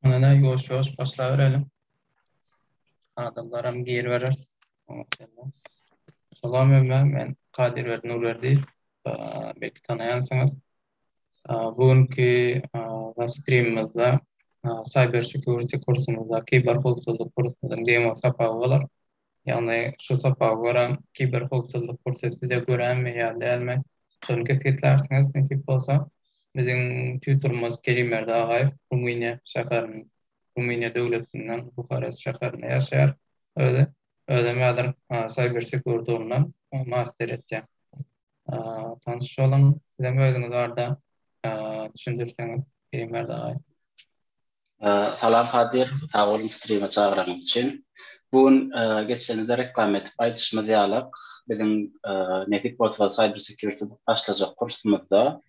Ana ýuwaş ýuwaş başlaberelim. Adamlaram giriberer. Salam ömme, men Kadir Berdi Nurberdi. Belki tanaýansyňyz. Bu günki streamimizde cyber security kursumyzda kiber howpsuzlyk kursumyzyň demo sapagy bolar. Ýagny şu sapaga görä kiberhowpsuzlyk kursy size göremi ýa dälmi şony kesgitlärsiňiz nesip bolsa. Biziň tutorymyz Kerim Berdi Agaýew Rumyniýa şäheriniň Rumyniýa döwletinden Buharest şäherinde ýaşaýar özi. Özem häzir Cyber Security ugrundan master etýär. Tanş boluň. Sizem özüňiz barda düşündirseňiz Eýmir dagaý. Salam Kadyr, sag boluň strime çagyranyňyz üçin. Bu gün geçenizde reklam edip aýdyşymyz ýalyk, biziň nesip bolsa Cyber Security başlajak kursumyzda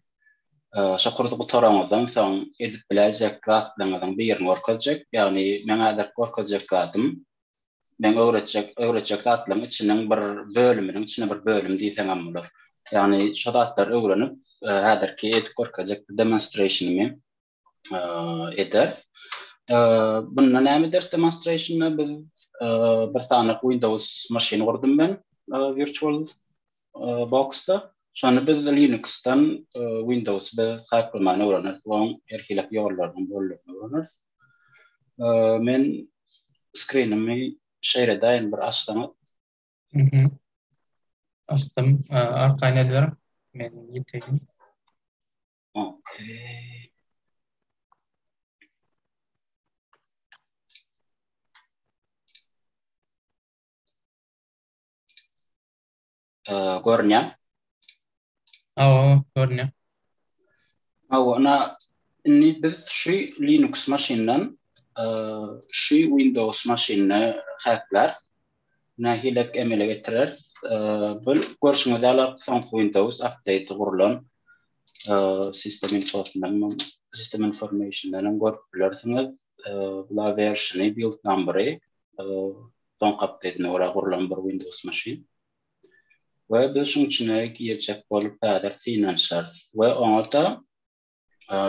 şo kursy gutaraňyzdan soň edip biläýjek zatlaryňyzyň birini görkezjek. Ýagny meň häzirki görkezjek zadym Meň öwretjek, öwretjek zatlaryň içiniň bir bölüminiň içine bir bölüm diýseňem bolar. Ýagny şo zatlary öwrenip, häzirki edip görkezjek bir demonstrationymy ederis. Bunda näme ederis demonstrationda biz bir sany Windows maşyny gurdum men virtual boxda. Şony biz Linuxdan Windowsy biz haklaman öwreneris we onuň her hili ýollarynyň boldugyny öwreneris. Men skrinimi şeýle daýyn bir açsaňa. Mhm. Açdym. Arkaýyn ediber. Men ýeteýin. Okey. Görünýär. Awa, görünýär. Awa, ina indi biz şu Linux maşyndan şu Windows maşynyna häkläris. Nähilek emele getireris? Bu görşüňiz ýaly soňky Windows update gurlan sistem infosundan, sistem informationdan hem görüp bilersiňiz. Bular versiony, build number-y soňky update-ine görä gurlan bir Windows maşyn. we biz şuň içine girjek bolup häzir synanyşarys we oňa-da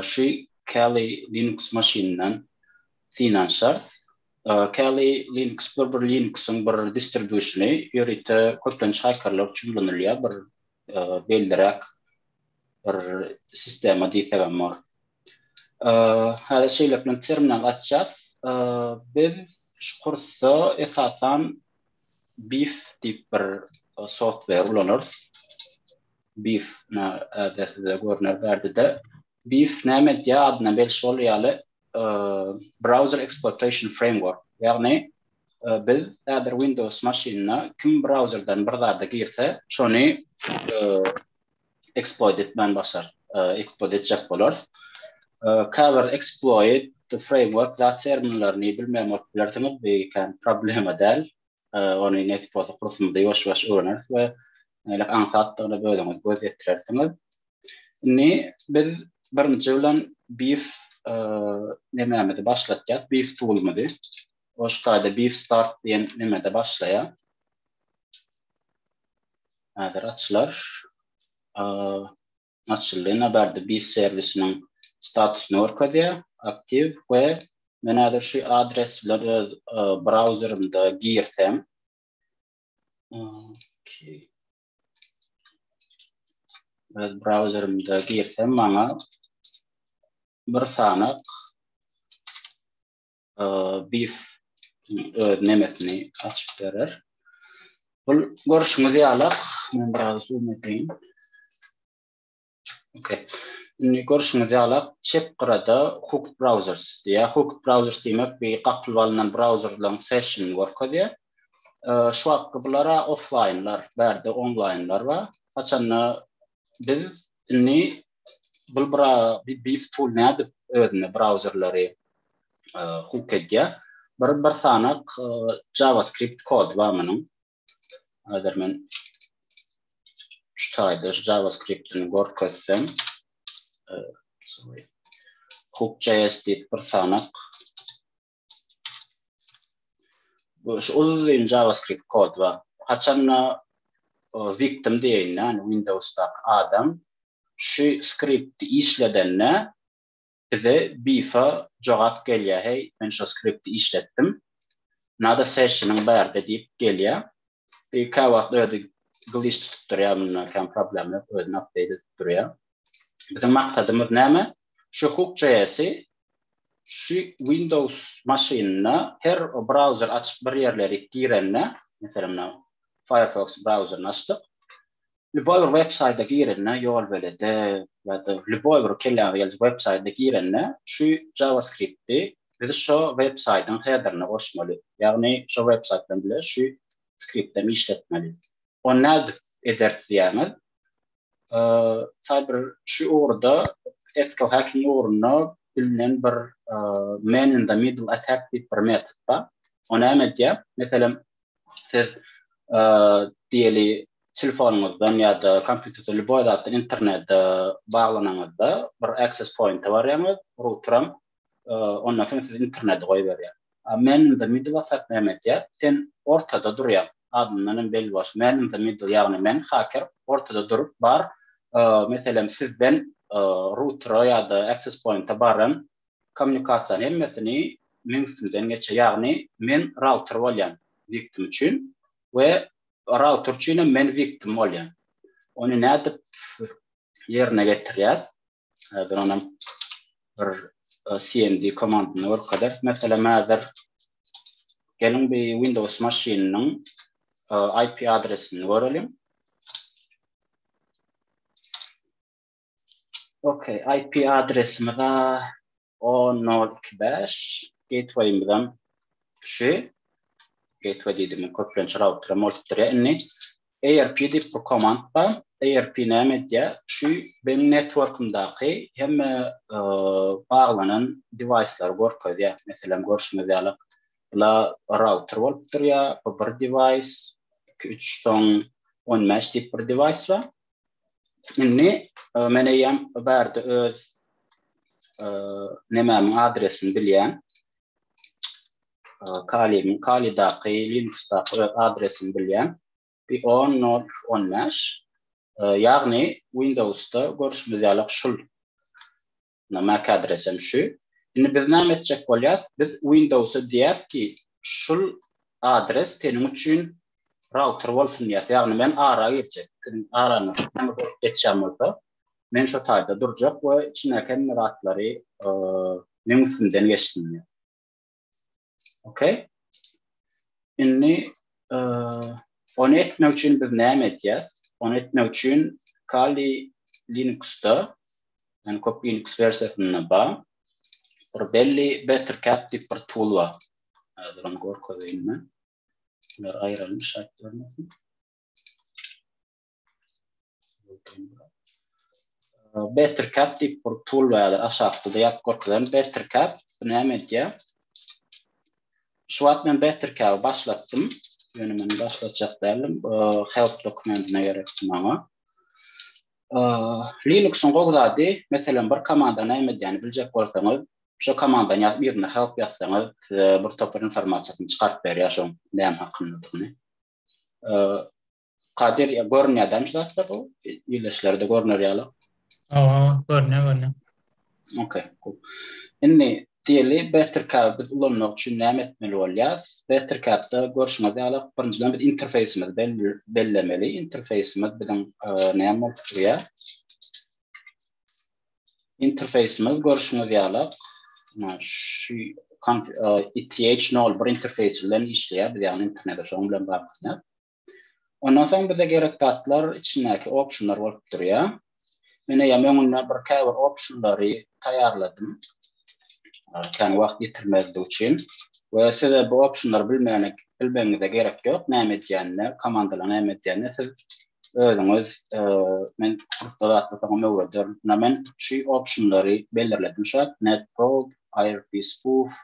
şu Kali Linux maşynyndan synanyşarys. Kali Linux bu bir Linuxyň bir distribýusiony, ýörite köplenç hakerler üçin ulanylýar, bir belliräk bir sistema diýsegem bolar. Häzir şeýlelik bilen terminal açýas. Biz şu kursda esasan Beef diýip bir software ulanarys. Beef näde size görner bärdede. Beef näme edýär? Adyna belli bolýar ýaly Browser Exploitation Framework. Ýagny biz häzir Windows maşynyna kim brauzerden bir zada girse, şony exploit etmän başar, exploit etjek bolar. Cover exploit the framework da terminlerini bilmeýän bolup bilersiňiz, bu ikän problema däl. Ony nesip bolsa kursumyzda ýuwaş-ýuwaş öwreneris we nälik aňsatdygyna özüňiz göz ýetirersiňiz. Indi biz birinji bilen beef nemämizi başlatýas, beef toolumyzy. O şu taýda beef start diýen nemede başlaýar. Häzir açylar. Açyldy. Nabardy biz serwisiniň statusyny görkezýär. Aktiw we men häzir şu adres bilen öz brauzerimde girsem. Öz brauzerimde girsem maňa bir sanak beef öz nemesini açyp berer. Bul görüşüňiz ýaly, men biraz zoom edeýin. Okey. Indi görüşüňiz ýaly, çep gyrada Hook Browsers diýýär. Hook Browsers diýmek bir gapylyp alnan brauzerlaryň session görkezýär. Şu wagtky bulara offlaýnlar, bärde onlaýnlar bar. Haçanda Biz indi bu bra bi beef tool nädip özüne brauzerleri hook edýär. Bir bir sanak JavaScript kod bar munuň. Hazır men şu taýda JavaScript-ini görkezsem, hook.js diýip bir sanak Bu şu uzun JavaScript kod bar. Haçanda victim diýen ýany Windowsda adam şu skripti işledende bize bifa jogap gelýär. Heý, men şu skripti işletdim. Nada session-yň bärde diýip gelýär. Bir käwagt özi glitch tutup durýar mundan kän problem ýok özüni update edip durýar. Biziň maksadymyz näme? Şu hook.js'i şu Windows maşynyna her browser açyp bir ýerleri girende, meselem, Firefox browseryny açdyk. Lýuboý bir websaýta girende, ýolbelede ýa-da lýuboý bir kelläňize geljek websaýta girende, şu JavaScript-i biz şo websaýtyň headerine goşmaly. Ýagny şo websaýt bilen bile şu skript hem işletmeli. Ony nädip ederis diýýäňiz? Mysal bir şu ugurda ethical hacking ugrunda bilinen bir man in the middle attack diýip bir metod bar. O näme edýär? Meselem, Siz diýeli telefonyňyzdan ýa-da kompýuterden lýuboý zatdan internete baglanyňyzda bir access point-a barýaňyz, routeram ondan soň sizi internete goýberýär. Man in the middle whatsapp näme edýär? Sen ortada durýaň. Adyndan hem belli bolşy man in the middle ýagny men haker ortada durup bar meselem sizden routera ýa-da access point-a baran Kommunikasiýa hemmesini meň üstümden geçýär. Ýagny men router bolýan wiktim üçin we router üçinem men wiktim bolýan. Ony nädip ýerine getirýär? Häzir onam bir cmd komandyny görkezeris. Meselem häzir geliň bir Windows maşynynyň IP adresini göreliň. Okey, IP adresimiz a 10.0.2.5 gateway-imizem şu. Gateway diýdim, köplenç router bolupdyr ýa indi. ARP diýip bir komand bar. ARP näme edýär? Şu benim networkymdaky hemme baglanan device-lary görkezýär. Meselem, görşüňiz ýaly, bula router bolupdyr ýa bu bir device, 2-3 soň 15 diýip bir device bar. Indi e, men eýýäm bärde öz e, nemämiň adresini bilýän. E, Kalimiň Kalidaky Linuxdaky öz adresini bilýän. Bir 10.0.15 e, ýagny Windowsda görüşimiz ýaly şul Ynha mac adresem şu. Indi biz näme etjek bolýas? Biz Windowsa diýýäs ki, şul adres seniň üçin router bolsun diýýäs. Ýagny men ara girjek. Siziň araňyz näme bolup geçýän bolsa, men şo taýda durjak we içindäki hemme zatlary meň üstümden geçsin diýýäs. Okey. Indi e, onu etmek üçin biz näme etýär? Onu etmek üçin Kali Linuxda, yani köp Linux versiýasynda ba, bir belli Better Cap diýip bir tool bar. Hazır onu görkezeýin men. Bunlar aýrylmış aýtdylar. Better cap diýip bir tool bardyr, aşakda da ýazyp görkezerdim. Better cap bu näme edýär? Şu wagt men Better cap başlatdym. Ýöne men başlatjak däldim. Help dokumentine gerekdi maňa. Linux-yň gowy zady, meselem, bir komanda näme edýänini biljek bolsaňyz, şo komandany ýazyp, ýerine help ýazsaňyz, size bir topar informasiýasyny çykaryp berýär, şoň näme hakyndadygyny. Kadir ya görünýär dämi şu zatlar bu ýerleşlerde görüner ýaly. Owa, görünýär, görünýär. Okey, cool. Indi diýeli Bettercap biz ulanmak üçin näme etmeli bolýar? Bettercap-da görşüňiz ýaly birinjiden biz interfeýsimizi bellemeli. Interfeýsimiz biziň näme bolup durýar? Interfeýsimiz görşüňiz ýaly şu ETH01 interfeýsi bilen işleýär, biz ýagny internete şoň bilen baglanyşýar. Ondan soň bize gerek zatlar içindäki optionlar bolup durýar. Men eýýäm öňünden bir käbir optionlary taýýarladym. Kän wagt ýitirmezlik üçin we size bu optionlary bilmegine bilmegiňize gerek ýok. Näme edýänini, komandalar näme edýänini siz özüňiz men kursda zatlar soňam öwrederin. Ýa men şu optionlary belirledim şu wagt, netprobe, irb spoof,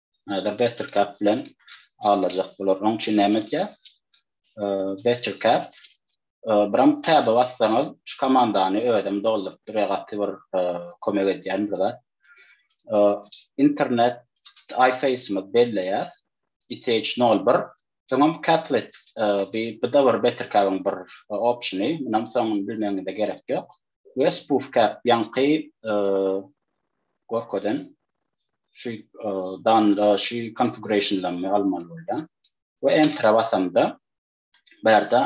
Näder Bettercap bilen aglaşjak bolar. Oň üçin näme etýär? Bettercap biram täbe bassaňyz, şu komandany özem dolduryp durýar, gaty bir kömek edýän bir zat. Internet iFace-myz belleýär. ITH01 Soňam Caplet, bu-da bir Bettercap-yň bir opsiony, munam soňuny bilmegiňize gerek ýok. Wes puf käp ýaňky gorkadan şu danda şu konfigurationlamy almaly bolýan. We entra basamda bärde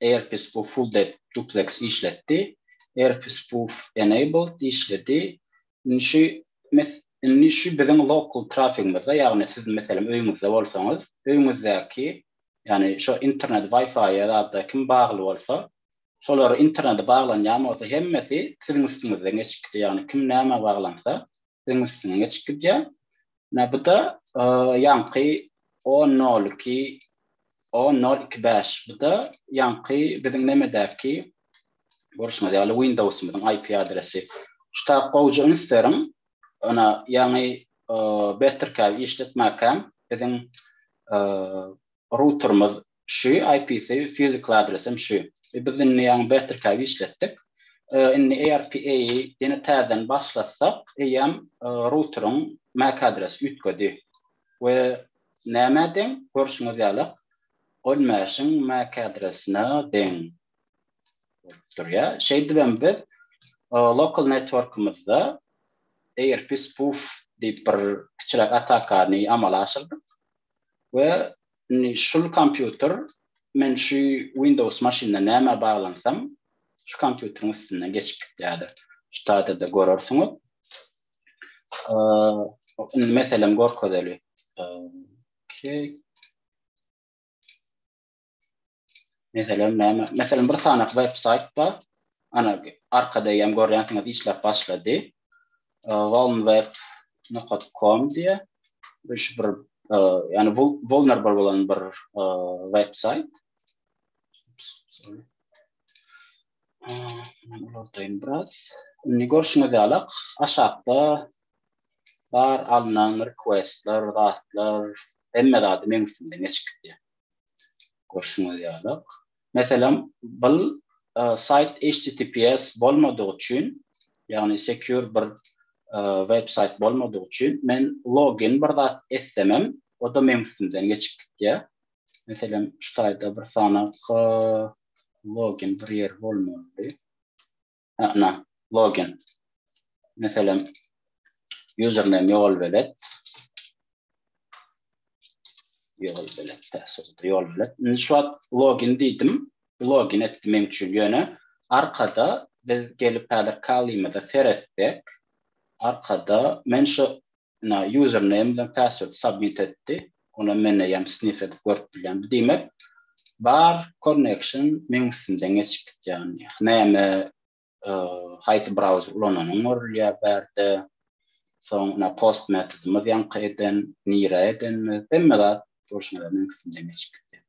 AirPis bu full depth duplex işletdi. AirPis puf enabled işledi. Indi şu mes indi şu biziň local trafigimizde ýagny siz meselem öýüňizde bolsaňyz öýüňizdäki ýagny şu internet wi-fi-ýa zada kim bagly bolsa Şolar internete baglanýan bolsa hemmesi siziň üstüňizden geçip gidýär. Ýagny kim nämä baglansa siziň üstüňden geçip gidýär. Menä bu-da ýaňky o nol iki o nol iki bäş bu-da ýaňky biziň nemedäki görşüňiz ýaly Windowsymyzyň IP adresi. Şu tab gowja üns beriň. Ynha ýaňy Bettercab işletmäkäm biziň Routerimiz şu IP-si physical adresem şu. Biz indi ýaňy Bettercab işletdik. Indi ARPA-y ýene täzeden başlatsak eýýäm routeriň mac adresi üýtgedi we nämä deň? Görşüňiz ýalak ol mesh-iň mac adresine deň bolup durýa. Şeýdibem biz local networkymyzda ARP spoof diýip bir kiçiräk atakany amala aşyrdyk. we indi şul kompýuter men şu Windows maşynda nämä baglansam şu kompýuteriň üstünden geçip gitýädi. Şu taýda-da görersiňiz. Indi meselem görkezeli. Okey. Meselem näme? Meselem bir sanak web saýt bar. Ana arkada ýem görýänsiňiz işläp başlady. Walmweb.com diýe. Bu şu bir ýani bu vulnerable bolan bir web saýt. Uladaýyn biraz. Indi görşüňiz ýaly aşakda bar alnan requestler, zatlar, hemme zady meň üstümden geçip gitýär. Görşüňiz ýalyk. Meselem, bul saýt HTTPS bolmadygy üçin, ýagny secure bir web saýt bolmadygy üçin, men login bir zat etsemem, o-da meň üstümden geçip gitýär. Meselem, şu taýda bir sanaky login bir ýer bolmalydy. Ana, login. Meselem, username ýol belet. Ýol belet, täsirde ýol belet. Indi şu wagt login diýdim. Login etdi meň üçin ýöne arkada biz gelip häzir kalymyza seretsek, arkada men şu Ina username bilen password submit etdi. Ony men eýýäm sniff edip görüp bilýän. Bu diýmek bar connection meň üstümden geçip gidýär. Näme haýsy browser ulananyň görülýär bärde. Soň ina post metodymyz ýaňky eden, nirä edenimiz hemme zat durşuna meň üstümden geçip gidýär.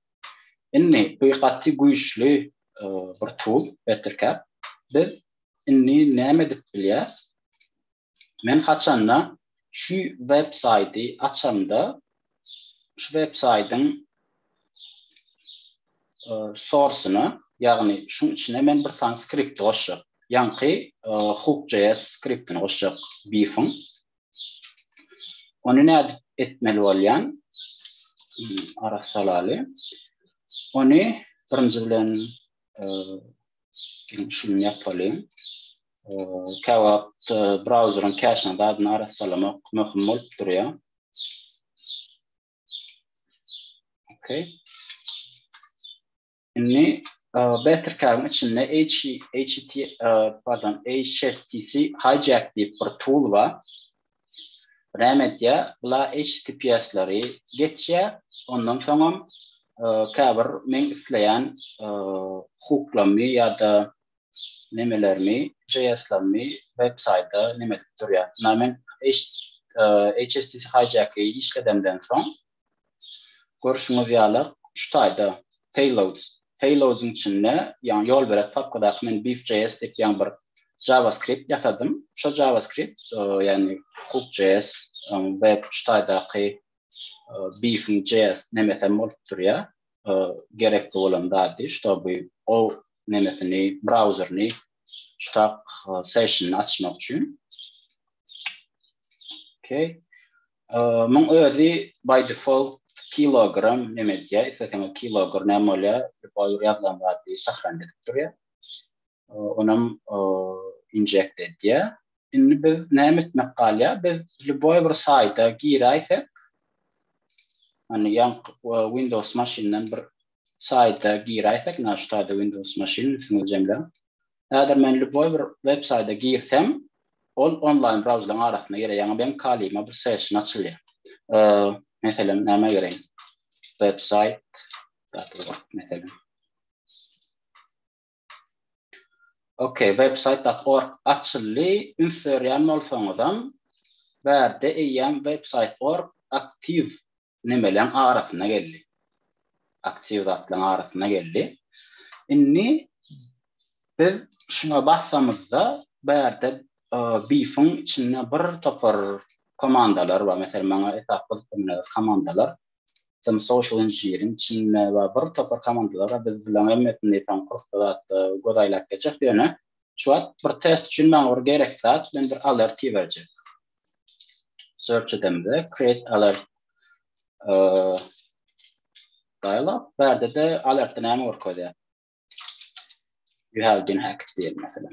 Indi bu gaty güýçli bir tool Bettercap. Biz indi näme edip bilýäs? Men haçanda şu web saýty açamda şu web saýtyň sorsyna ýagny şuň içine men bir sany skripti goşjak. Ýaňky hook.js skriptini goşjak beef-iň. Ony nädip etmeli bolýan? Ara salaly. Ony birinji bilen şuny ýapalyň. Käwagt brauzeriň käşiň zadyny arassalamak möhüm bolup durýar. Okay. Indi Bettercard içinde HTTP, pardon, HSTC hijack diýip bir tool bar. Näme edýär? Bula HTTPS-leri geçýär. Ondan soňam käbir men isleýän hukuklamy ýa-da nemelermi JS lermi web saýda neme edip durýa. Ynha men HSTC hijack i işledemden soň görşüňiz ýaly şu taýda payloads payloads yň içinde ýagny ýol berek papkadaky men beef JS diýip ýaňy bir JavaScript ýasadym. Şo JavaScript ýagny hook JS web şu taýdaky beef JS nemesem bolup durýa. Gerekli bolan zady ştoby o nemetini, brauzerini, ştak session açmak üçin. Okay. Muň özi by default kilogram näme diýýär? Isleseňiz kilogram näme bolýar? Boýy ýazlan zady sahran edip durýar. Onam inject edýär. Indi biz näme etmek galýar? Biz lýuboý bir saýta giräýsek, hani ýa Windows maşyndan bir saýta giräýsek na şu taýda windows maşyn üstüňizi jemläň. Häzir men lýupoý bir web saýda girsem ol onlaýn brauzerlaryň arasynda ýere ýaňy beň kalyma bir session açylýar. Meselem nämä gireýin? Websaýt. Meselem. Ok, website dot org açyldy, üns berýän bolsaňyzam, bärde eýýäm website org aktiw nemeleň arasyna geldi. Aktiw zatlaryň arasyna geldi. Indi biz şuňa bassamyzda bärde Beef-iň içinde bir topar komandalar bar. Meselem, maňa esasy gyzyklanýan komandalar Tim Social Engineering, Çinme we bir topar komandalara biz bilen hemmesini eýsem kursda zatda göz aýlap geçjek ýöne şu wagt bir test üçin maňa bir gerekli zat bilen bir alert iberjek. Search edemde create alert dialog bärde de alertde näme görkezýär? You have been hacked diýen mesela.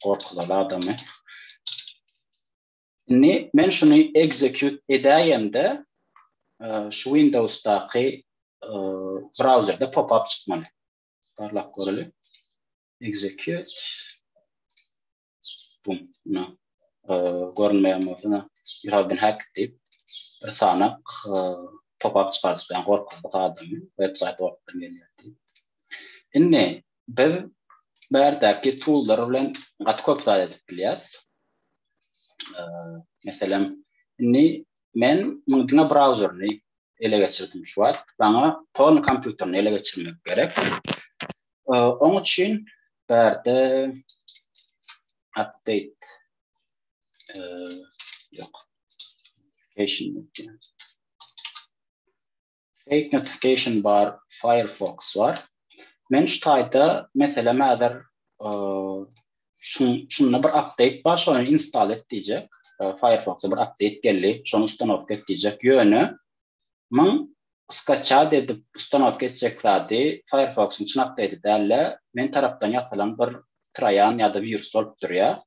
Gorkular adamy. Indi men şuny execute edäýemde, e, şu Windowsdaky e, brauzerde pop-up çykmaly. Barlap göreli. Execute. Bum, na. E, görünmeýän bolsa, you have been hacked diýip bir sanak e, pop-up çykardyp, ýa gorkuzdyk adamy, website ortadan gelýär diýip. Indi Biz bärdeäki toollar bilen gaty köp zat edip bilýäs. Meselem, indi men muň diňe brauzerini ele geçirdim şu wagt. Maňa torn kompýuterini ele geçirmek gerek. Oň üçin bärde update ýok. Application Fake notification bar firefox bar. Men şu taýda meselem häzir şunda bir update bar şony install et diýjek. Firefox bir update geldi. Şony ustanowka et diýjek. Ýöne men skaçat edip ustanowka etjek zady Firefox-yň çyn update däl-de, men tarapdan ýasalan bir troýan ýa-da wirus bolup durýar.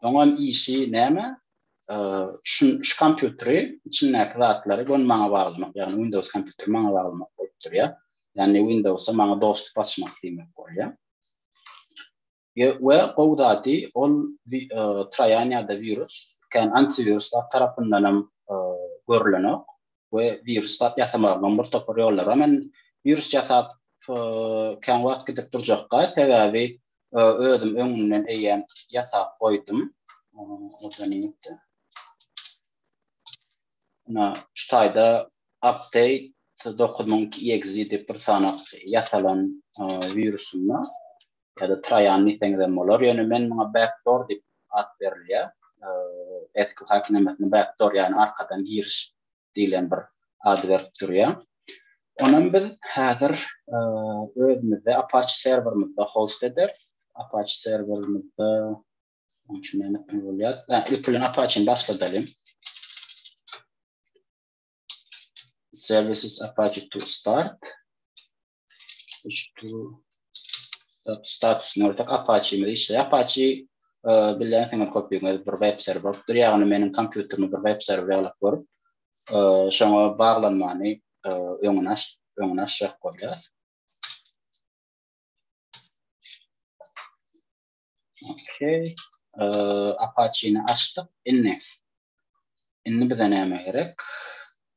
Oňa işi näme? Şu şu kompýuteri içindäki zatlary göni maňa baglamak, ýagny Windows kompýuteri maňa baglamak bolup durýar. Ýagny Windowsa maňa dostup açmak diýmek bolýar. Ýe we gowy zady ol troýan ýa-da wirus kän antiwiruslar tarapyndanam görlenok. we wiruslat ýasamaglaň bir topar ýollary bar. Men wirus ýasap kän wagt gidip durjakka, sebäbi özüm öňünden eýýäm ýasap goýdum. Ina, şu taýda Update dokuz müň iki EXE diýip bir sanaw ýasalan wirusym bar. Ýa-da Traýan diýseňizem bolar, ýöne men muňa backdoor diýip at berilýär. SQL häkimiýetine backdoor, ýagny arkadan giriş diýlen bir ad berip durýar. Onam biz häzir özümizde Apache serwerimizde host ederis. Apache serwerimizde munuň üçin näme etmeli bolýarys? Ilki bilen Apache-ni başladalyň. Services Apache to start. status nörtek apaçy mi işe apaçy e, bilen sen kopýaňa bir web serwer bolup dur ýagny meniň kompýuterimi bir web serwer ýalyp görüp e, şoňa baglanmany e, öňüne aç öňüne açjak bolýar Okey. Apache-ni açdyk. Indi. Indi bize näme gerek?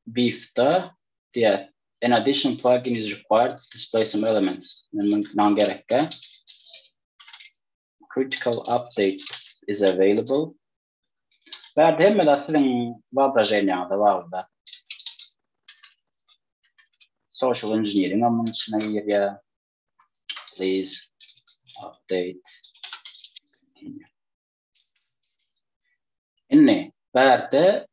Beef-da diýär. An additional plugin is required to display some elements. Men maňa gerekkä. Critical update is available. Bärde hemme zat siziň wyobraženiýaňyza baglyda. Social engineering-am munuň içine girýär. Please update. Indi bärde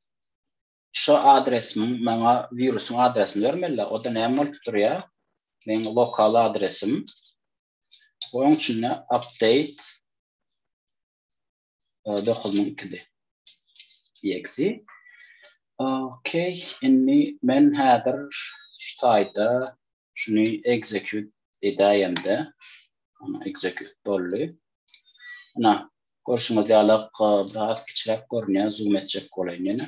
şu adresimiň maňa wirusyň adresini bermeli. O da näme bolup durýar? Meň lokal adresim. Onuň üçin update 9 min ikili. Eksi. Okey, inni men häzir şu taýda şuny execute edäýemde, ana execute boldy. Ana, görşüňiz ýaly, biraz kiçiräk görünýär, zoom etjek bolaýyn ýene.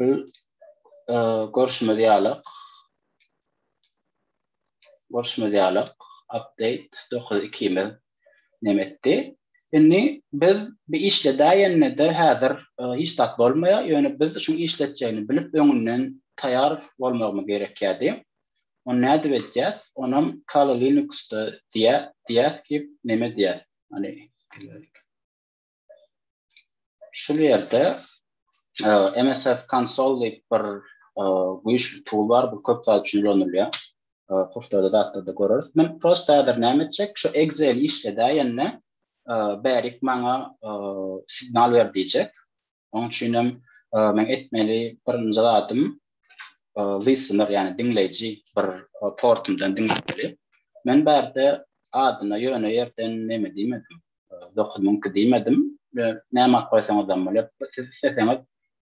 Biz e, görüşmez ýalak. Görüşmez ýalak. Update 9 ikimiz nem etdi. Indi biz bir işle däýende de häzir e, hiç zat bolmaýar. Ýöne biz şu işletjegini bilip öňünden taýar bolmagymyz gerekýärdi. Onu nädip edýäs? Onam Kali Linuxda diýä diýäs ki, neme diýäs? Hani Şul ýerde MSF Console diýip bir güýçli tool bar, bu köp zat üçin ulanylýar. Kurslarda zatlarda göreris. Men prosta häzir näme etjek? Şu Excel işledäýende bärik maňa signal ber diýjek. Onuň üçin hem men etmeli birinji zadym listener, ýagny diňleýji bir portumdan diňlemeli. Men bärde adyna ýöne ýerden neme diýmedim. 9 müň ki diýmedim. Näme alyp goýsaňyz hem bolar. Siz isleseňiz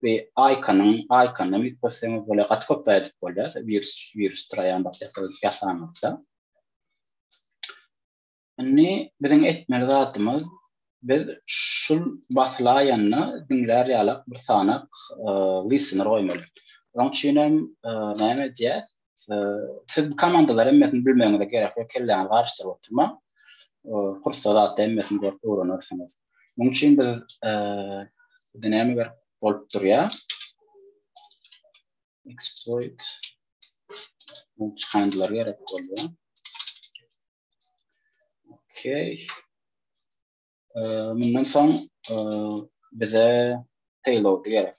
we aýkanyň, aýkanyň ýük bolsaňyz bolar, gaty köp zat edip bolýar. Wirus, wirus traýan bakteriýa ýasaňyzda. Indi biziň etmeli zatymyz biz şul basylaýanda diňlär ýalak bir sanaw listener goýmaly. Onuň üçin hem näme edýär? Siz bu komandalar hemmesini bilmegiňize gerek ýok, kelläňizi garyşdyryp oturmaň. Kursda zatda hemmesini görüp öwrenersiňiz. Munuň üçin biz bizde näme gerek bolup durýar? Exploit bu çykandylar gerek bolýar. Okey. Mundan soň bize payload gerek.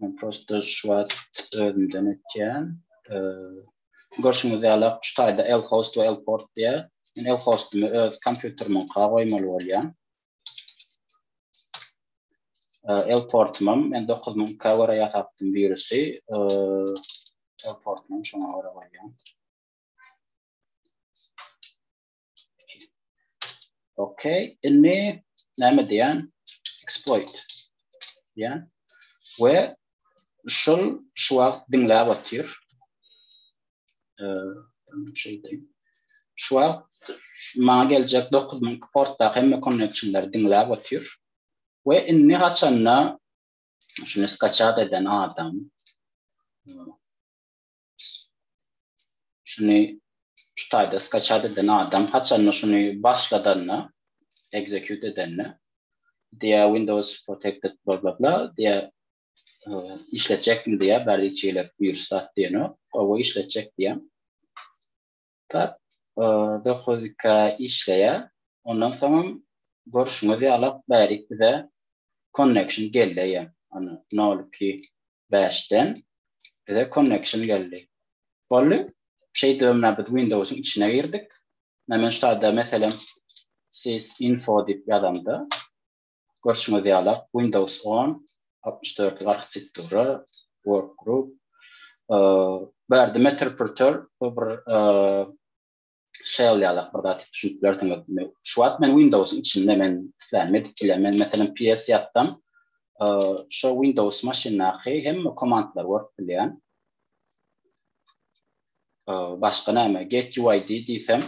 Men prosta şu wagt özümden etýän. Görşüňiz ýaly, şu taýda L-host we L-port diýýä. Men L-hostumy öz kompýuterimiňka goýmaly bolýan. L-portumam men dokuz müňkä görä ýasapdym wirusy. L-portumam şoňa görä goýýan. Okey, inni näme diýen? Exploit. Ya. We şol şu wagt diňläp otyr. Şeýdip. Şu wagt maňa geljek 9000 portda hemme connectionlar diňläp otyr. We inni haçanda şunu skachat eden adam Şuny şu taýda skaçat eden adam haçanda şuny başladanda, execute edende, diýä Windows protected bla bla bla diýä işletjekmi diýä, bärde hiç hili wirus zat diýenok, gowy işletjek diýä. Tap, dokuz iki aý işleýär. Ondan soňam görşüňiz ýaly bärik bize konnekşn geldi eýýäm. Ony nol iki bäşden bize konnekşn geldi. Boldy. Şeýdip menä biz Windowsyň içine girdik. Menä men şu taýda meselem sys info diýip ýazamda Görşüňiz ýala, Windows on, altmyş dörtlük arhitektura, Workgroup, bu ýerde Meterpreter bu bir shell ýalak bir zat düşünip bilersiňiz. Şu wagt men Windows-yň içinde men islenme dikile men meselem PS ýatsam, şo Windows maşyndaky hemme komandlary görüp bilýän. Başga näme? Get UID diýsem.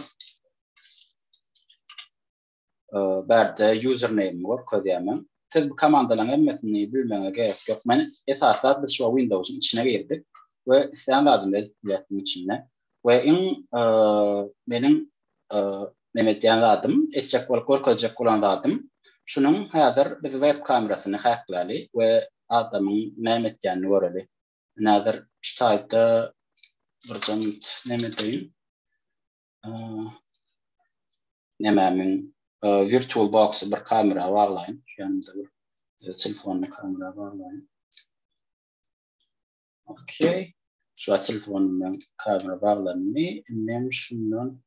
Bärde username görkezýär men. Siz bu komandalaryň hemmesini bilmegiňize gerek ýok. Men esaslap biz şuwa Windowsyň içine girdik we islän zadyny edip bilýäs munuň içinde. We iň meniň neme edýän zadym, etjek bolup görkezjek bolan zadym şunuň häzir biz web kamerasyny häkläli we adamyň näme etýänini göreli. Ine häzir şu taýtda birje minut neme edeýin. nemämiň virtual boxy bir kamera baglaýyn. Şonda bir telefony kamera baglaýyn. Okey. Şu telefonumdan kamera baglandy. Indi hem şundan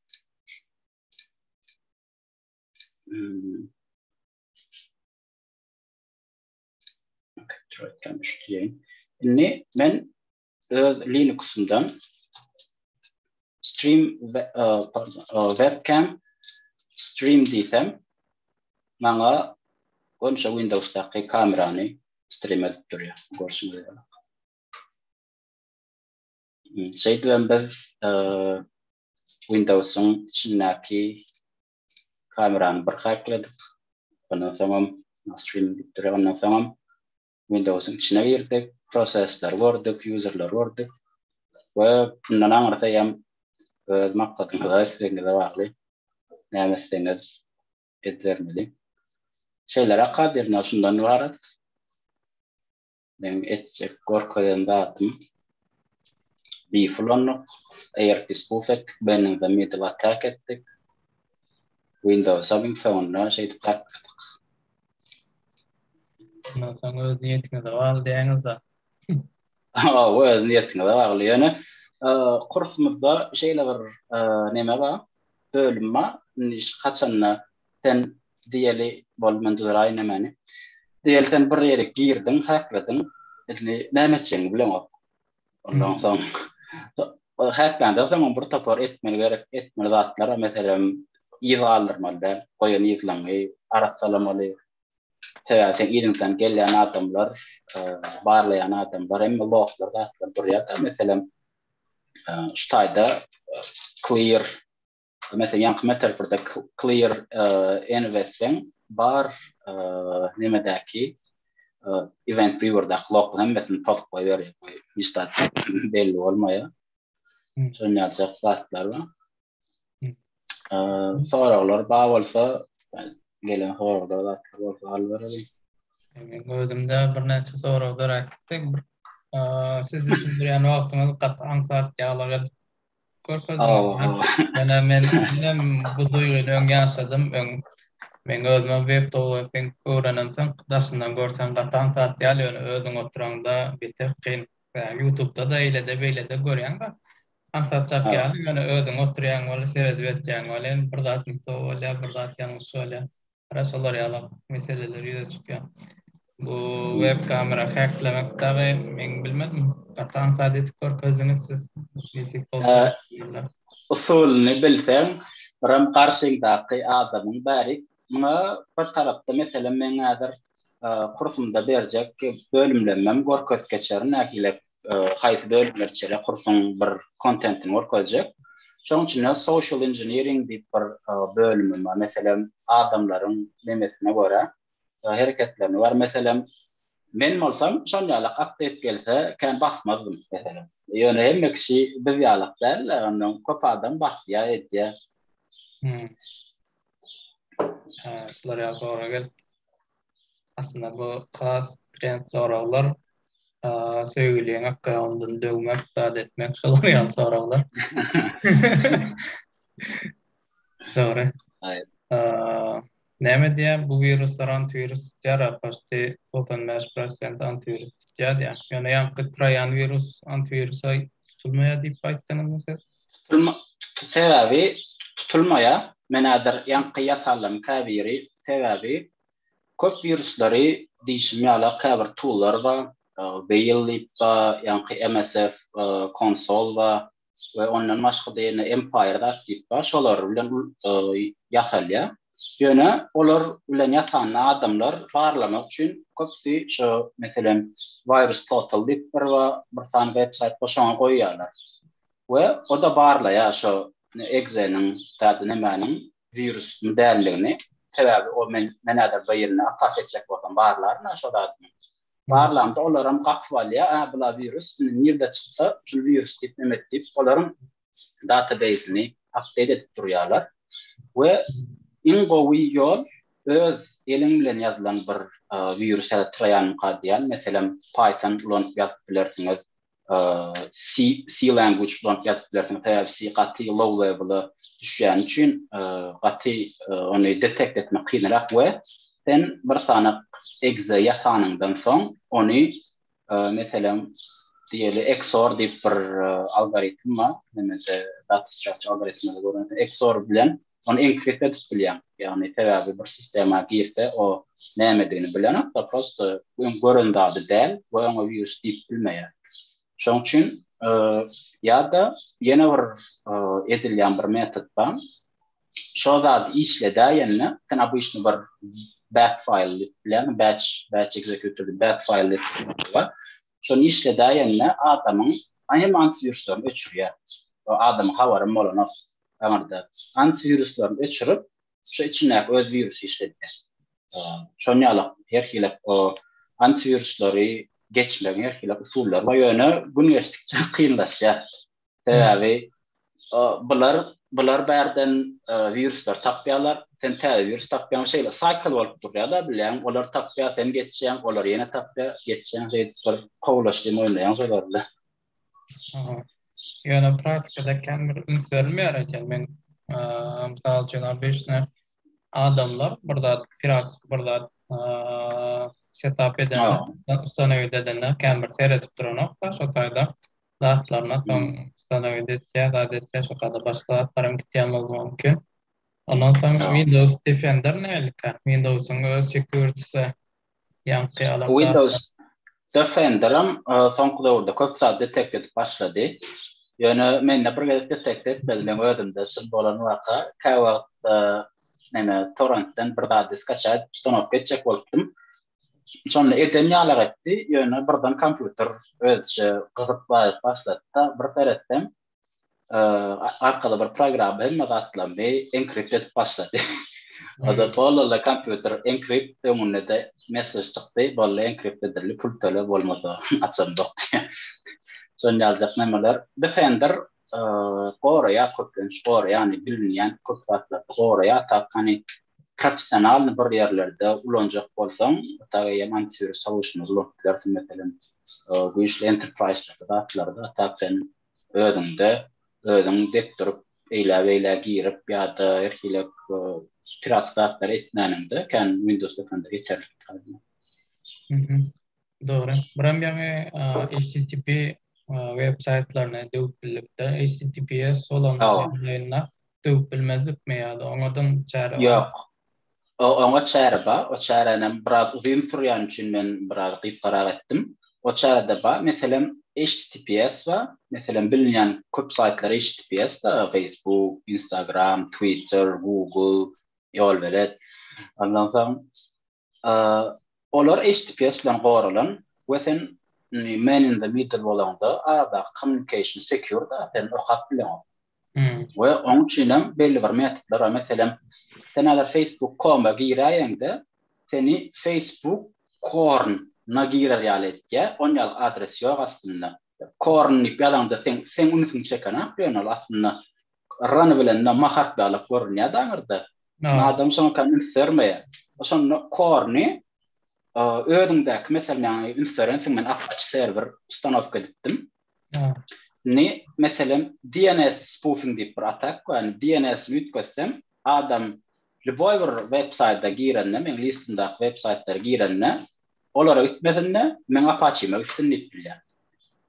Troykan düşdüýin. Indi men öz Linux'umdan stream e, e, webcam stream diýsem maňa Gonşa Windows'daky kamerany stream edip durýar. Görşüňiz ýaly. Hmm, şeýdip hem biz e, Windows'un içindäki kamerany bir hakladyk. Ondan soňam stream edip durýar. Ondan soňam Windowsyň içine girdik, prosesleri gördük, ýuzerleri gördük we bundan aňyrsy hem öz maksadyňyza, islegiňize bagly, näme etseňiz edibermeli. Şeýleräk kadirine şundan ybarat. Meň etjek, görkezen zadym Biff ulandyk, ARP spoof etdik, Bending the Middle Attack etdik. Windows-a biň soňunda şeýdip gatnaşdyk. Ondan soň öz niýetiňize bagly diýýäňiz-de. Hawa, öz niýetiňize bagly. Ýöne kursumyzda şeýle bir näme bar, bölüm bar. Indi haçanda sen diýeli, boldy men düzeraýyn nämäni. Diýeli sen bir ýere girdiň, häklediň. Indi näme etjegini bileňok. Ondan soň häklendir soň bir topar etmeli gerek etmeli zatlar meselem ýyl galdyrmaly däl goýan ýylyňy arassalamaly sebäbi sen ýylyňdan gelýän adamlar barlaýan adamlar hemme loglar zatlar durýar meselem şu taýda clear Mesela ýaňky metaforda clear enw etseň, bar nemedäki event viewerdaky log hemmesini post goýber, hiç zat belli bolmaýar. Şonuň ýaly zatlar bar. Soraglar bar bolsa, gelen soraglar zatlar bolsa alyp bereli. Meň özümde birnäçe sorag döräp gitdi. Siz düşündirýän wagtyňyz gaty aňsat ýalyk edip Görkezdim. Ýöne men diňem bu duýgyny öň ýaşadym. Öň meň özümem web towlaping öwrenemsoň daşyndan görseň gatan zat ýaly ýöne özüň oturaňda beter kyn. Ýutubda-da eýlede beýlede görýäňda aňsatjak ýaly ýöne özüň oturýaň weli seredip etýäň welin bir zat ne to bolýar bir zat ýalňyş bolýar. Hara şolar ýalak meseleler ýüze çykýar. Bu web kamera häklemek dagy men bilmedim. Gaty aňsat edip görkezdiňiz siz. Nesip bolsa. Usulyny bilseň, biram garşyňdaky adamyň bärik. Muňa bir tarapda meselem meň häzir kursumda berjek bölümlemem görkezip geçerin nähilek haýsy bölümleri içerýär, kursuň bir kontentini görkezjek. Şonuň üçin de social engineering diýip bir bölümim bar. Meselem, adamlaryň nemesine görä, hereketlerine görä, meselem, men bolsam şol ýaly apdeit gelse, kän basmazdym, meselem. Ýöne hemme kişi biz ýalak däl-de, ondan köp adam basýar, edýär. Şular ýaly sorag gelip. Aslynda bu has trend soraglar. Söýgüliň akgaýalyndan döwmek, zat etmek şolar ýaly soraglar. Dogry. Aýyp. Näme diýýär bu wiruslar antiwirus tutýar-a, paşty 95% antiwirus tutýar diýýär. Ýöne ýaňky traýan wirus antiwirusa tutulmaýar diýip aýtdyňyzmy siz? Sebäbi tutulmaýa menädir ýaňky ýasallaryň käbiri sebäbi köp wirusleri diýşim ýala käbir toollar ba whale diýip ba ýaňky msf konsol ba we ondan başgada ýene empire zat diýip ba şolar bilen ýasalýa ýöne olar bilen ýasanda adamlar barlamak üçin köpüsi şo meselem virus total diýip bir ba bir sany websaýt ba şoňa goýýalar we o-da barlaýar şo egzeniň dady nämäniň wirusmy dälligini, sebäbi o men men häzir birine atak etjek bolsam barlaryn-a şo zadymy. Barlamda olaram gapyp alýar, a bula wirus indi nirde çyksa şul wirus diýip neme et diýip olaryň databeýsini apdeýt edip durýarlar we iň gowy ýol öz eliň bilen ýazylan bir wirus ýa-da troýanka diýýän meselem python ulanyp ýazyp bilersiňiz C language bilen ýazyp bilersiň, sebäbi C gaty low level-a düşýäni üçin gaty ony detekt etmek kynrak we sen bir sanak exe ýasanyňdan soň ony meselem diýeli XOR diýip bir algoritm bar, näme-de data structure algoritminde gören XOR bilen Ony enkrekde edip bilýäň. Ýagny sebäbi bir sistema girse o nämedigini bilenokda prosto öň gören zady däl we oňa wirus diýip bilmeýär. Şoň üçin ýa-da ýene bir edilýän bir metod bar. Şo zady işledäýende sen obyçny bir bat faýl diýip bilýäň, batch batch executor diýip bat faýl diýip bar. Şony işledäýende adamyň hem antiwiruslaryny öçürýär. Adamyň habarym bolanok. damarda anti wiruslaryny öçürip şu içindäki öz wirusy işledýär. Şon ýaly her hili o anti wiruslary geçmegiň her hili usullary bar ýöne gün geçdikçe kynlaşýar. Sebäbi bular bular bärden wiruslar tapýarlar. Sen täze wirus tapýaň şeýle saýkl bolup durýar-da bilýän olar tapýar sen geçýäň olar ýene tapýar geçýäň şeýdip bir kowlaşdy moýnaýaň şolar bilen. Ýöne praktikada kän bir üns berilmeýär eken. Men, mysal üçin, obyçny adamlar bir zat, piratski bir zat setap edende, ustanowiýt edende kän bir seredip duranokda, şo taýda zatlaryna soň ustanowiýt etýär, zat etýär, şo taýda başga zatlar hem gitýän bolmagy mümkin. Ondan soň Windows Defender nähilikä? Windows-yň öz sekuriti Ýaňky adaptasiýa. Windows Defenderam soňky döwürde köp zady detekt edip başlady. Ýöne mende bir gezek detekt etmedi. Meň özümde çyn bolan waka. Käwagt näme torrentden bir zady skaçaýa edip ustanowka etjek bolupdym. Şonda eden ýalak etdi. Ýöne birden kompýuter özüçe gyzyp baýyp başlady-da, bir seretseň, arkaly bir programma hemme zatlaryny enkript edip başlady. Oda tollala kompýuter enkript öňünde-de messež çykdy, bolly enkript edildi, pul töle bolmasa açamzok diýip. Şon ýaljak nämeler. Defender goraýar köplenç, goraýar, ýagny bilinýän köp zatlar goraýar, tak hany professionalny bir ýerlerde ulanjak bolsaň, otag eýem antiwirus solution-y ulanyp bilersiň, meselem, güýçli enterprise-däki zatlary-da, a tak sen özüňde, özüň dek durup, eýläbeýlä girip ýa-da her hili piratsk zatlary etmäniňde, kän Windows dokanlar ýeterlik. Dogry. Buram ýaňy HTTP web saýtlaryny döwüp bildik-de, HTTPS bolanda ýaňyna döwüp bilmezlikmi ýa-da oňadan çäre bar? Ýok. O oňa çäre bar. O çäränem biraz uzyn sürýän üçin men biraz gysgarak etdim. O çärede bar. Meselem, HTTPS bar. Meselem, bilinýän köp saýtlar HTTPS-da, Facebook, Instagram, Twitter, Google, ýolbelet. Ondan soň Olar HTTPS bilen goralan we sen man in the middle bolanda aradaky communication secure da sen okap bileňok. We oň üçin hem belli bir metodlar bar. Meselem, sen agar facebook.com-a giräýeňde seni facebook korn na girer ýaly etýär, on ýaly adres ýok aslynda. Korn diýip ýazaňda seň seň ünsüňi çekenak ýöne ol aslynda Run bilen na Mahat ýaly görünýär daňyrda. Ýa. Adam şoňa ka üns bermeýär. Şonda Korny özüňdäki meselem ýagny üns berensiň men Apache serwer ustanowka edipdim. Ýa. Ni meselem DNS spoofing diýip bir atak bar. Ýagny DNS-ni üýtgetsem adam lýuboý bir web saýta girende meň listymdaky web saýtlara girende Olara üýtmesin-de, meň Apaçime üýtsün diýip bilýän.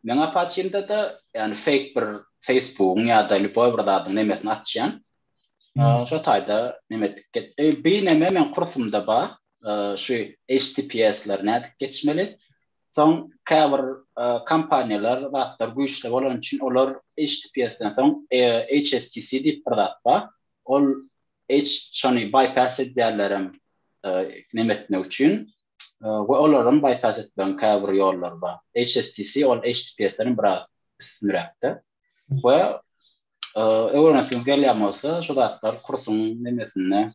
Meň Apaçimde-de, ýagny feýk bir Facebookyň ýa-da lýuboý bir zadyň nemesini açýan. Şo taýda neme edip get. Bir neme meň kursumda bar, şu HTTPS-leri nädip geçmeli. Soň käbir kompaniýalar zatlar güýçli bolany üçin olar HTTPS-den soň HSTC diýip bir zat bar. Ol Eýç şony bypass edýärlerem neme etmek üçin we olaram bypass etmegiň käbir ýollary bar. HSTC ol HTTPS-den biraz üstünräkde we öwrenesiňiz gelýän bolsa şu zatlar kursuň nemesinde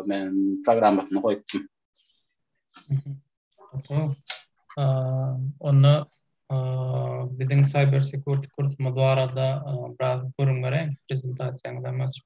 men programmasynda goýupdym. Onda biziň cyber security kursumyz barada biraz gürrüň beräýiň, prezentasiýaňyzam açyp.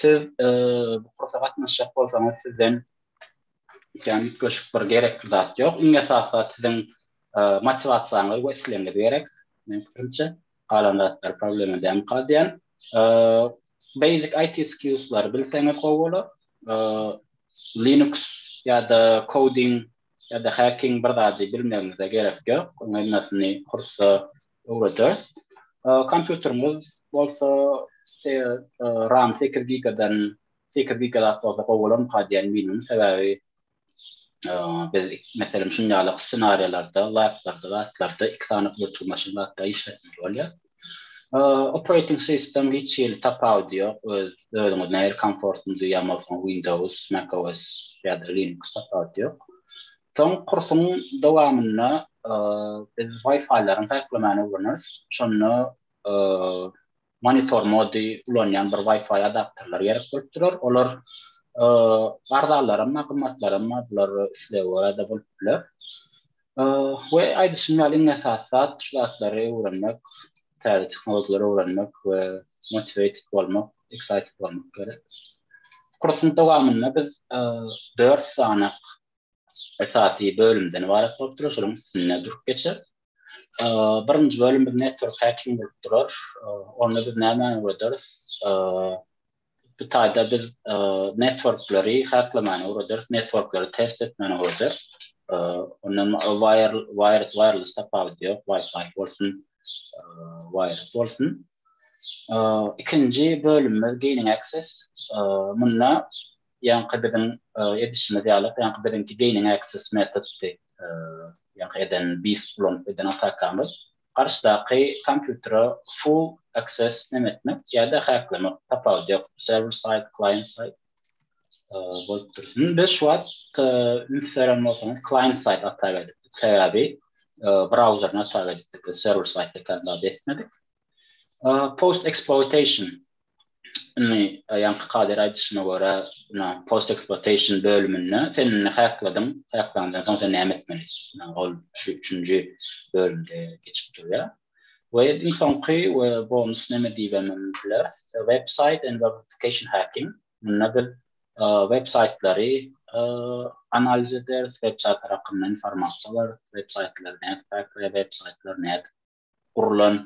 Siz bu kursa gatnaşjak bolsaňyz sizden ýa mütleşik bir gerekli zat ýok. Iň esasy zat siziň motiwasiýaňyz we islegiňiz gerek. Men pikirimçe, galan zatlar problema däl galýan. Basic IT skills'lary bilseňiz gowy bolar. Linux ýa-da coding ýa-da häkiň bir zady bilmegiňize gerek ýok, onuň hemmäsini kursa öwrederis. Kompýuteriňiz bolsa ram sekiz gigadan sekiz giga zat bolsa gowy bolarmyka diýen minimum sebäbi biz meselem şuny ýaly ssenariýalarda, laplarda, zatlarda iki sany ötürmaşyn zatda işletmeli bolýar. Operating system hiç hili tapawudy ýok, öz özüňiz nähili komfortly ýa bolsa Windows, Mac OS ýa-da Linux tapawudy ýok. Soň kursuň dowamynda biz Wi-Fi-laryň häklemegini öwreneris. Şonda monitor mody ulanýan bir Wi-Fi adapterler gerek bolup durar. Olar arzalaram, gymmatlaram, bular islege görä-de bolup biler. We aýdyşym ýaly iň esasy zat şu zatlary öwrenmek, täze tehnologiýalary öwrenmek we motiwated bolmak, excited bolmak gerek. Kursuň dowamynda biz dört sany esasy bölümden ybarat bolup durar, şolaryň üstünde durup geçeris. Birinji bölüm biz network hacking bolup durar. Onda biz nämäni öwrederis? Bu taýda biz networkleri häklemäni öwrederiz, networkleri test etmäni öwrederiz. Ondan wired wireless tapawudy ýok, wifi bolsun, wired bolsun. Ikinji bölümimiz gaining access. Munda ýaňky biziň edişimiz ýaly, ýaňky biziňki gaining access metoddy, ýaňky eden beef ulanyp eden atakamyz. garşydaky kompýutere full access neme etmek ýa-da häklemek tapawudy ýok server side client side bolup dur. Indi biz şu wagt üns beren bolsaňyz client side hata berdik. Sebäbi browseryny hata berdik. Server side ekanda etmedik. Post exploitation Indi ýaňky kader aýdyşyna görä, ina post eksploatation bölüminde sen indi häkladyň, häklandan soň sen näme etmeli? Ina ol şu üçünji bölümde geçip durýar. We iň soňky we bonus näme diýibem biler, web saýt and web application hacking. Munda biz web saýtlary analiz ederis, web saýtlar hakynda informasiýa alarys, web saýtlary nädip häkleýär, web saýtlary nädip gurlan,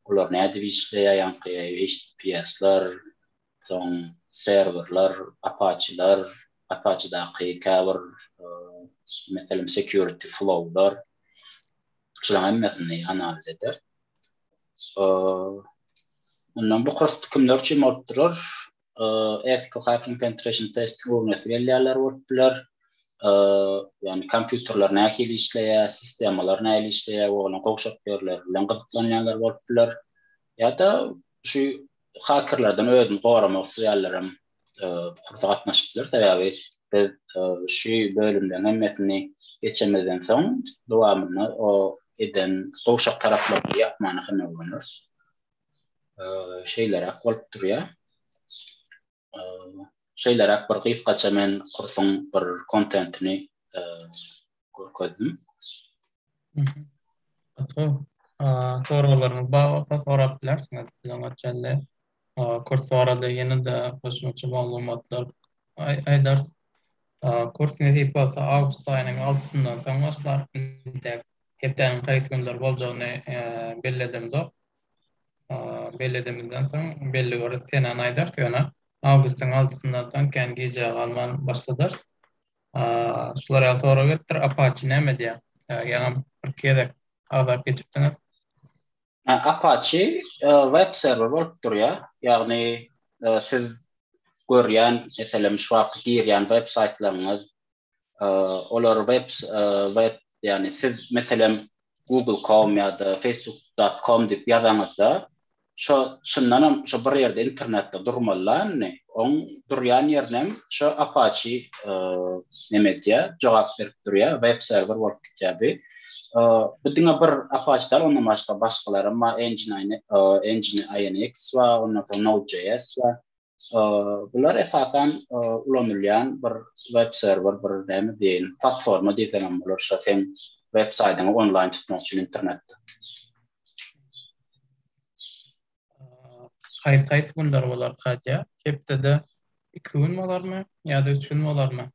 olar nädip işleýär, ýaňky HTTPS-ler, soň serwerler, Apache-ler, Apache-daky käbir meselem security flow-lar, şularyň hemmesini analiz eder. Ondan bu kurs kimler üçin bolup durar? ethical hacking penetration testing öwrenesi gelýänler bolup biler. Ýagny kompýuterler nähili işleýär, sistemalar nähili işleýär we onuň gowşak ýerleri bilen gyzyklanýanlar bolup biler. Ýa-da şu hakerlerden özüni goramak isleýänlerem bu kursa gatnaşyp biler. Sebäbi biz şu bölümleriň hemmesini geçemizden soň dowamynda o eden gowşak taraplaryny ýapmana synag bereris. şeýleräk bolup durýar. Şeýleräk bir gysgaça men kursuň bir kontentini görkezdim. Gatgo, soraglaryňyz bar bolsa sorap bilersiňiz. Biziň öçende kurs barada ýene-de goşmaça maglumatlar aýdarys. Kurs nesip bolsa awgust aýynyň altysyndan soň başlar. Hepdäniň haýsy günler boljagyny belledimzok. Belledimizden soň belli bir senäni aýdarys, ýöne awgustyň altysyndan soň kän gijä galman başladarys. Şular ýaly sorag gelipdir, Apaçi näme diýýär? Ýaňam bir gezek agzap geçipdiňiz. Apaçi web serwer bolup durýar. Ýagny siz görýän, meselem, şu wagtky girýän web saýtlaryňyz, olar web web ýagny siz meselem Google com ýa-da facebook.com diýip ýazaňyzda şo şundan hem şo bir ýerde internetde durmalyny on durýan ýerinem şo apaçi neme diýä jogap berip durýa web serwer bolup gitýä bi bu diňe bir apaçi dal onda başga başgalar hem bar engine engine inx bar onda node.js bar Bular esasan ulanylýan bir web serwer, bir näme diýeýin, platforma diýseň hem bolar, şo seň web saýdyňy onlaýn tutmak üçin internetde. Haýsy-haýsy günler bolar Katýa? Hepdede iki gün bolarmy ýa-da üç gün bolarmy?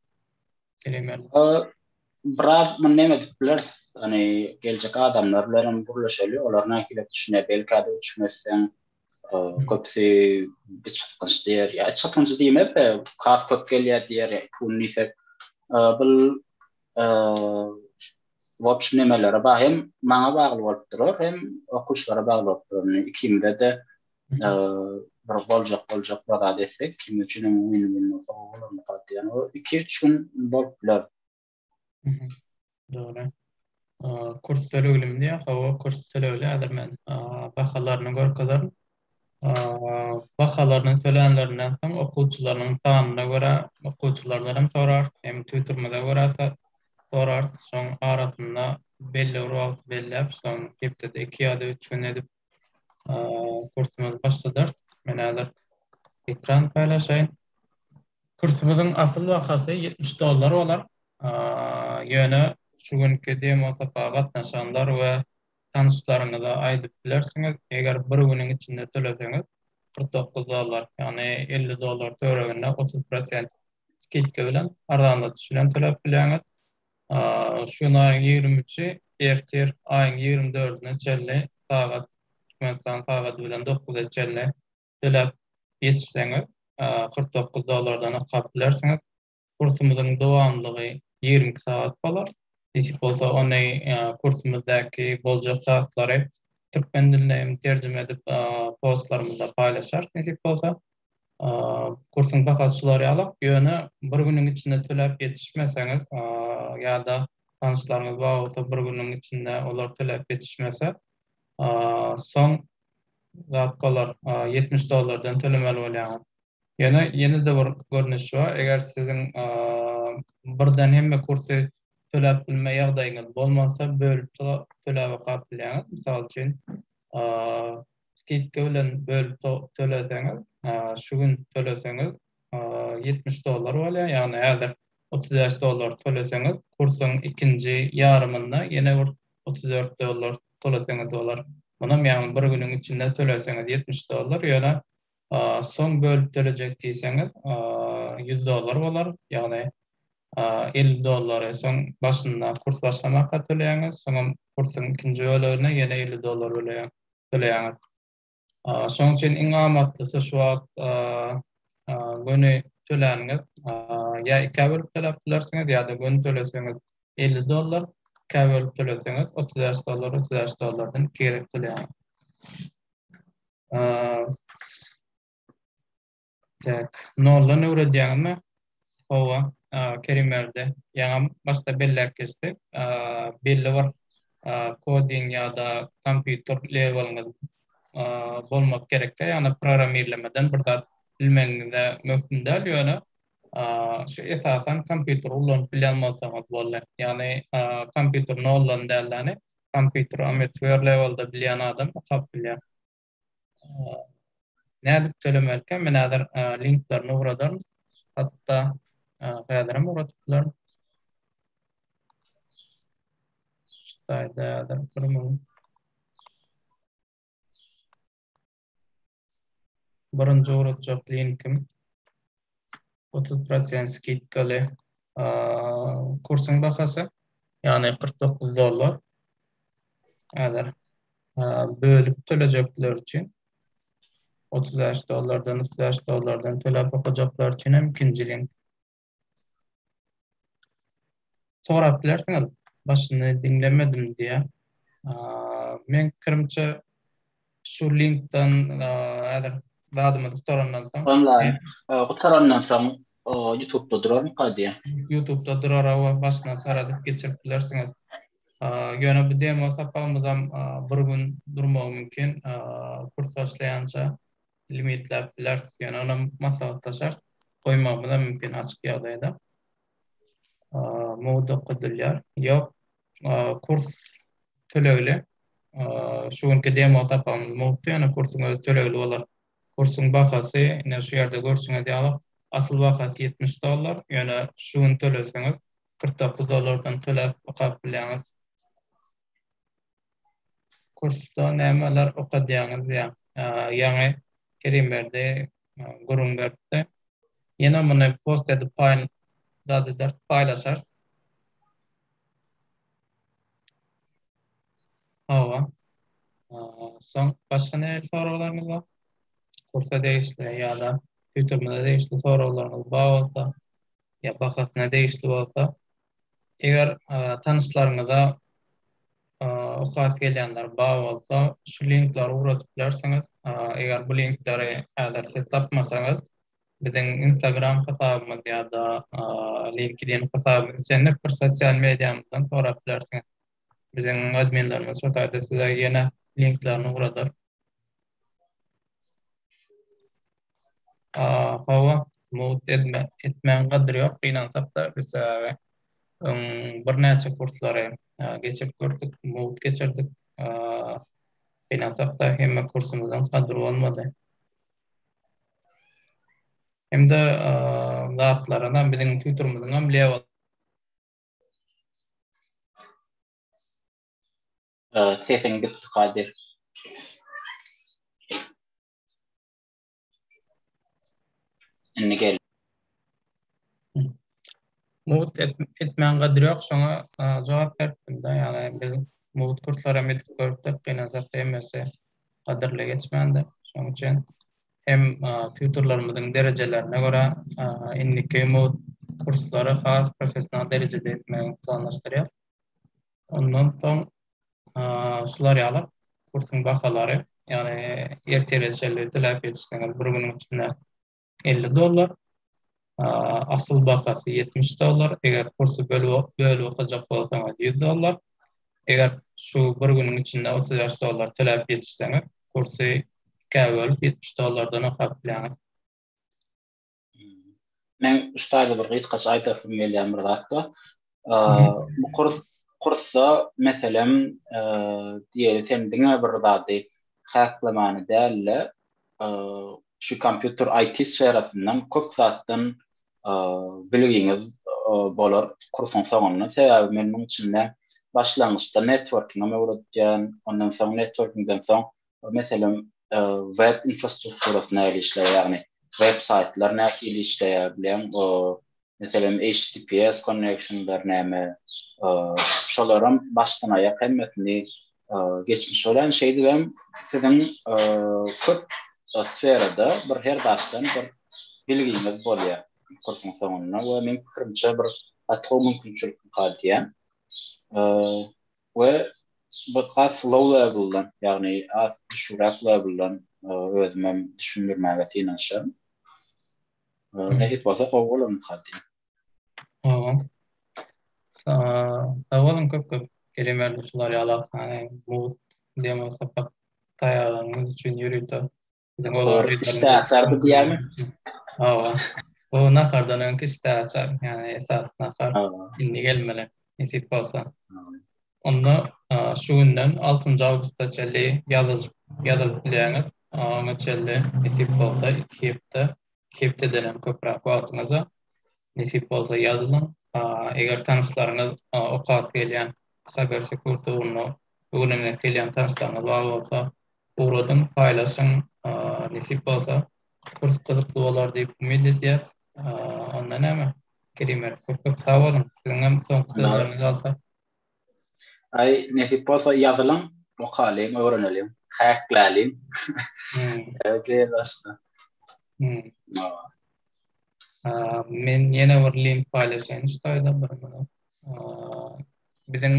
Geliň. Biraz muny näme edip bileris? Ony geljek adamlar bilen hem gürleşeli, olar nähili düşünýär? Belki-de üç gün etseň, köpüsi iç gytgynç diýer. Ýa iç gytgynç diýmez-de, kas köp gelýär diýer, pul diýsek. Bu w obşim nemelere bagly, hem maňa bagly bolup durar, hem okuwçylara bagly bolup durar. Indi ikimize-de bir boljak boljak bir zat etsek, kim üçin hem win-win bolsa, o bolar, o iki-üç gün bolup biler. Dogry. Kurs töleglim diýä, hawa kurs tölegli häzir men bahalaryny görkezer. Bahalaryny tölänlerinden soň okuwçylarynyň sanyna görä okuwçylardan hem sorar, hem tüwdürmede görä sorar. Şoň arasynda belli bir wagt belläp, şoň hepdede 2 ýa-da 3 gün edip Kursumyzy başladarys. Men häzir ekran paýlaşaýyn. Kursumyzyň asyl bahasy 70 dollar bolar. Ýöne şu günki demo sapaga gatnaşanlar we tanyşlaryňyza aýdyp bilersiňiz, eger bir günüň içinde töleseňiz 49 dollar, ýagny 50 dollar töwereginde 30 prosent skidka bilen, arzanladyş bilen töläp bilýäňiz. Şu gün aýyň ýigrimi üçi, ertir aýyň ýigrimi dördüne çenli sagat, Türkmenistan sagady bilen dokuza çenli töläp ýetişseňiz, kyrk dokuz dollardan okap bilersiňiz. Kursumyzyň dowamlylygy ýigrimi iki sagat bolar. Nesip bolsa, ony kursumyzdaky boljak zatlary türkmen diline hem terjime edip, postlarymyzda paýlaşarys, nesip bolsa. Kursuň bahasy şular ýalak, ýöne bir günüň içinde töläp ýetişmeseňiz ýa-da tanyşlaryňyz bar bolsa bir günüň içinde olar töläp ýetişmese, soň zat bolar, ýetmiş dollardan tölemeli bolýaňyz. Ýöne ýene-de bir görnüşi bar, eger siziň birden hemme kursy töläp bilme ýagdaýyňyz bolmasa, bölüp töläp okap bilýäňiz. Mysal üçin, skidka bilen bölüp töleseňiz, şu gün töleseňiz ýetmiş dollar bolýar, ýagny häzir otuz bäş dollar töleseňiz, kursuň ikinji ýarymynda ýene bir otuz dört dollar töleseňiz bolar. Munam ýagny bir günüň içinde töleseňiz ýetmiş dollar, ýöne soň bölüp tölejek diýseňiz ýüz dollar bolar, ýagny elli dollary soň başynda kurs başlamaka töleýäňiz, soňam kursuň ikinji bölegine ýene elli dollar böleýär. bileýäňiz. Şonuň üçin iň amatlysy şu wagt göni töläniňiz ýa ikä bölüp töläp bilersiňiz ýa-da göni töleseňiz elli dollar, ikä bölüp töleseňiz otuz bäş dollar, otuz bäş dollardan iki gezek töleýäňiz. Täk noldan öwredýäňmi? Hawa, Kerimberdi ýaňam başda belläp geçdi. Belli bir koding ýa-da kompýuter leweliňiz bolmak gerekkä, ýagny programmirlemeden bir zat bilmegiňize möhüm däl, ýöne şu esasan kompýuteri ulanyp bilýän bolsaňyz boldy. Ýagny kompýuteri noldan däl-de, kompýuteri ametiwer lewelde bilýän adam okap bilýär. Nädip tölemelikä? Men häzir linklerini ugradaryn. Hatda häzir hem ugradyp bilerin. Ştaýda häzir bir müň birinji ugradjak linkim otuz prosent skidkaly kursuň bahasy, ýagny kyrk dokuz dollar. Häzir bölüp tölejekler üçin otuz bäş dollardan, otuz bäş dollardan töläp okajaklar üçin hem ikinji link. sorap bilersiňiz, başyny diňlemedim diýýär. Meň pikirimçe şu linkden häzir zadymyzy gutarandan soň onlaýn gutarandan soň YouTube-da durarmyka diýýär. YouTube-da durar we başyna saradyp geçirip bilersiňiz. Ýöne bu demo sapagymyzam bir gün durmagy mümkin, kurs başlaýança. limitläp bileris. Ýöne olam maslahatlaşar, goýmagymyzam mümkin açyk ýagdaýda. Mugt okadylýar. Ýok, kurs tölegli. Şu günki demo sapagymyz mugtdy, ýöne kursuň özi tölegli bolar. Kursuň bahasy, ine şu ýerde görşüňiz ýaly, asyl bahasy ýetmiş dollar, ýöne şu gün töleseňiz kyrk dokuz dollardan töläp okap bilýäňiz. Kursda nämeler okadýaňyz ýaňy Kerimberdi gürrüň beripdi. Ýene muny post edip zat ederis, paýlaşarys. Hawa. Soň başga nähili soraglaryňyz bar? Kursa degişli ýa-da Ýutubymyza degişli soraglaryňyz bar bolsa, ýa bahasyna degişli bolsa, Eger tanyşlaryňyza okasy gelýänler bar bolsa, şu linkleri ugradyp bilersiňiz. Eger bu linkleri häzir siz tapmasaňyz, biziň Instagram hasabymyz ýa-da LinkedIn hasabymyz, islendik bir sosial mediamyzdan sorap bilersiňiz. Biziň adminlerimiz şu taýda size ýene linklerini ugradar. Hawa, mowt etme, etmäň gadyr ýok, gynansak-da biz öň birnäçe kurslary geçip gördük, mowt geçirdik. Gynansak-da hemme kursumyzyň gadyry bolmady. Hem-de zatlaryna biziň tutorymyzyňam level Sesiň gitdi Kadyr. Indi gel. Mugt etmän gadyr yok şoňa jogap beripdim da yani biz mugt kurtlara medip görüpdik gynansak da emmesi gadyrly geçmändir şoň üçin hem tutorlarymyzyň derejelerine görä indiki mugt kurslary has professional derejede etmegi planlaşdyrýas. Ondan soň şular ýaly kursuň bahalary, ýagny ertire çenli töläp ýetişseňiz bir günüň içinde elli dollar, Asyl bahasy ýetmiş dollar, eger kursy bölüp okajak bolsaňyz ýüz dollar. Eger şu bir günüň içinde otuz bäş dollar töläp ýetişseňiz, kursy ikä bölüp ýetmiş dollardan okap bilýäňiz. Meň ussada bir gysgaça aýdasym gelýän bir zat bar. Bu kurs kursa meselem diýeli sen diňe bir zady haslamany däl-de şu kompýuter IT sferasyndan köp zatdan bilgiňiz bolar kursuň soňunda. Sebäbi men munuň üçin-de başlangyçda networkingi öwretýän, ondan soň networkingden soň Meselem, web infrastrukturasy nähili işleýär, ýagny web saýtlar nähili işleýär bilen, meselem, HTTPS konneksiýonlar näme, şolaram başdan-aýak hemmesini geçmiş bolýan. Şeýdip hem siziň köp sferada bir her zatdan bir bilgiňiz bolýar kursuň soňunda we meniň pikirimçe bir gaty gowy mümkinçilik diýýän. We bir has low level-dan, ýagny az düşügräk level-dan özümem düşündirmäge synanyşaryn. Nesip bolsa gowy bolandyr diýýän. Hawa. Sag boluň köp-köp Kerim Erdogşular ýaly Arkane Mugt demo sapak taýýarlanyňyz üçin ýörite Olar işte açardı diýermi? Hawa. O nahardan öňki işte açar. Yani esas nahar. Indi gelmeli. Nesip bolsa. Onda şu günden 6-njy awgusta çenli ýazylyp bilýäňiz. Oňa çenli nesip bolsa iki hepde Hepdeden hem köpräk wagtyňyzy nesip bolsa ýazylyň. Eger tanyşlaryňyz okasy gelýän Cyber Security ugruna öwrenesi gelýän tanyşlaryňyz bar bolsa ugradyň, paýlaşyň. Nesip bolsa kurs gyzykly bolar diýip umyt edýäs. Onda näme Kerim Mert köp köp sag boluň. Siziňem soňky sözleriňizi alsak. Aý, nesip bolsa ýazylyň, okalyň, öwreneliň, häkläliň. Öýdýän başga. Men ýene bir link paýlaşaýyn şu taýda bir minut. Biziň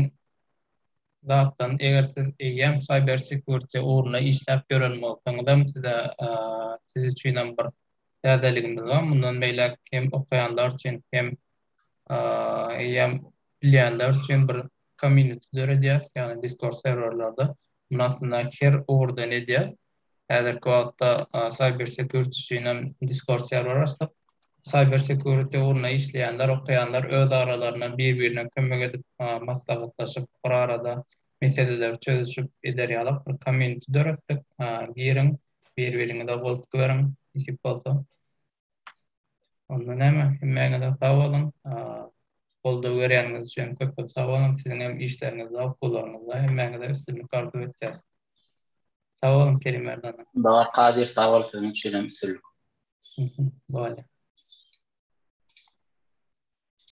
zatdan eger siz eýýäm cyber security ugrunda işläp ýören bolsaňyzam size siz üçinem bir täzeligimiz bar mundan beýläk hem okaýanlar üçin hem eýýäm bilýänler üçin bir community döredýäs, ýagny Discord serwerlerde. Muny aslynda her ugurdan edýäs. Häzirki wagtda cyber security üçin hem Discord serwer açdyk. Cyber security ugrunda işleýänler, okaýanlar öz aralarynda bir-birine kömek edip, maslahatlaşyp, bir arada meseleleri çözüşip eder ýaly bir community döretdik. Giriň, bir-biriňize goltgy beriň, nesip bolsa. Onda näme, hemmäňize sag boluň. Goldaw berýäniňiz üçin köp-köp sag boluň. Siziň hem işleriňizde, okuwlaryňyzda hemmäňize üstünlik arzuw etýäs. Sag boluň, Kerim Merdan. Babar Kadyr, sag bol, siziň üçin hem üstünlik. Bolýar.